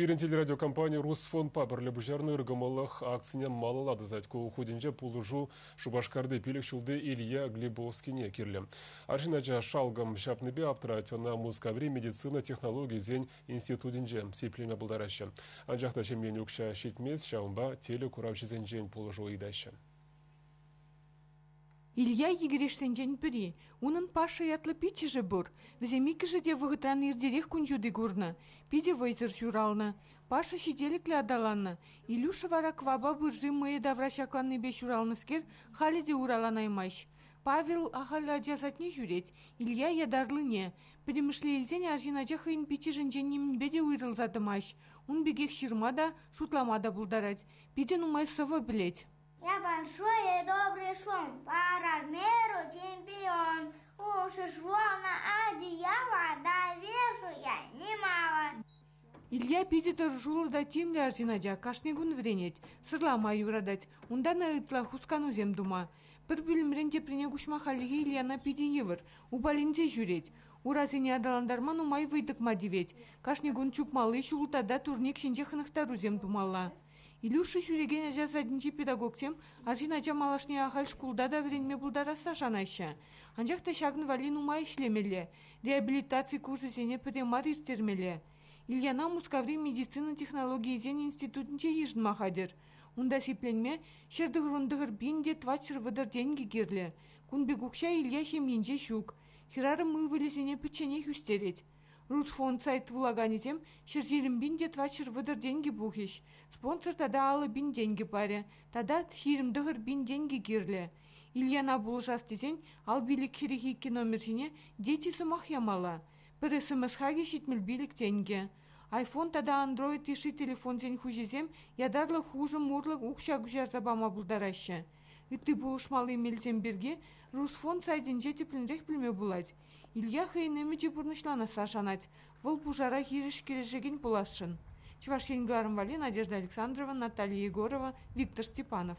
Пирӗн телерадиокомпани Русфондпа пӗрле пуҫарнӑ ыркӑмӑллӑх акцине малалла тӑсать. Ку хутӗнче пулӑшу Шупашкарти пилӗк ҫулти Илья Глебовскине кирлӗ. Арҫын ача шалкӑм ҫапнипе аптрать. Ӑна Мускаври медицина технологийӗсен институтӗнче сиплеме пултараҫҫӗ. Анчах та ҫемьене укҫа ҫитмест, ҫавӑнпа телекуравҫӑсенчен пулӑшу ыйтаҫҫӗ. Илья егерешсенчен пӗри. Унӑн Паша ятлӑ пиччӗшӗ пур. Вӗсем иккӗшӗ те вӑхӑтран иртерех кун ҫути курнӑ. Питӗ вӑйсӑр ҫуралнӑ. Паша ҫителӗклӗ аталаннӑ. Илюша вара квапа пырши мӑйӗ тавра ҫакланнипе ҫуралнӑскер халӗ те ураланаймасть. Павел ахаль ача садне ҫӳрет, Илья ятарлине. Пӗтӗмӗшле илсен арҫын ача хӑйӗн пиччӗшӗнчен нимӗнпе те уйрӑлса тӑмасть. Ун пекех ҫырма та, шутлама та пултарать. Питӗ нумай сӑвӑ пӗлет. Большое добрый шум, парамеру чемпион, ушешловна одеяло довешуя немало. Илья питӗ тӑрӑшуллӑ та тимлӗ арҫын ача кашни кун вӗренет, сӑрлама юратать. Унтан ытла хусканусем тума. Пӗр пӳлӗмрен теприне куҫма хальлӗхе Ильяна питӗ йывӑр, упаленсе ҫӳрет. Урасене аталантарма нумай вӑй тӑкма тивет. Кашни кун чупмалли ҫул та турник ҫинче хӑнӑхтарусем тумалла. Илюша ҫӳрекен ача садӗнчи педагогсем арҫын ача малашне ахаль шкулта та вӗренме пултарасса шанаҫҫӗ. Анчах та ҫакӑн валли нумай ӗҫлемелле, реабилитаци курсӗсене пӗрре мар ирттермелле. Ильяна Мускаври медицина технологийӗсен институтӗнче йышӑнма хатӗр. Унта сипленме ҫӗр тӑхӑрӑн-тӑхӑр пин те тӑватҫӗр вӑтӑр тенкӗ кирлӗ. Кун пек укҫа Илья ҫемйинче ҫук. Хӗрарӑм ывӑлӗсене пӗчченех ӳстерет. Рутфонд сайт вулаканӗсем ҫӗр-ҫирӗм пин те тӑватҫӗр вӑтӑр тенкӗ пухӗҫ, спонсор тата алӑ пин тенкӗ парӗ тата ҫирӗм тӑхӑр пин тенкӗ кирлӗ. Ильяна пулӑшас тесен ал пилӗк хӗрӗх икӗ номер ҫине дети сӑмах ямалла. Пӗр СМС хакӗ ҫитмӗл пилӗк тенкӗ. iPhone тата Android йышши телефонсен хуҫисем ятарлӑ хушӑм урлӑ укҫа куҫарса пама пултараҫҫӗ. Ытти пулӑшмалли мелсем пирки Русфонд сайтӗнче тӗплӗнрех пӗлме пулать. Илья хӑйӗн ӗмӗчӗ пурнӑҫланасса шанать. Вӑл пушара хирӗҫ кӗрешекен пуласшӑн. Чӑваш Ен кӑларӑм валли Надежда Александрова, Наталья Егорова, Виктор Степанов.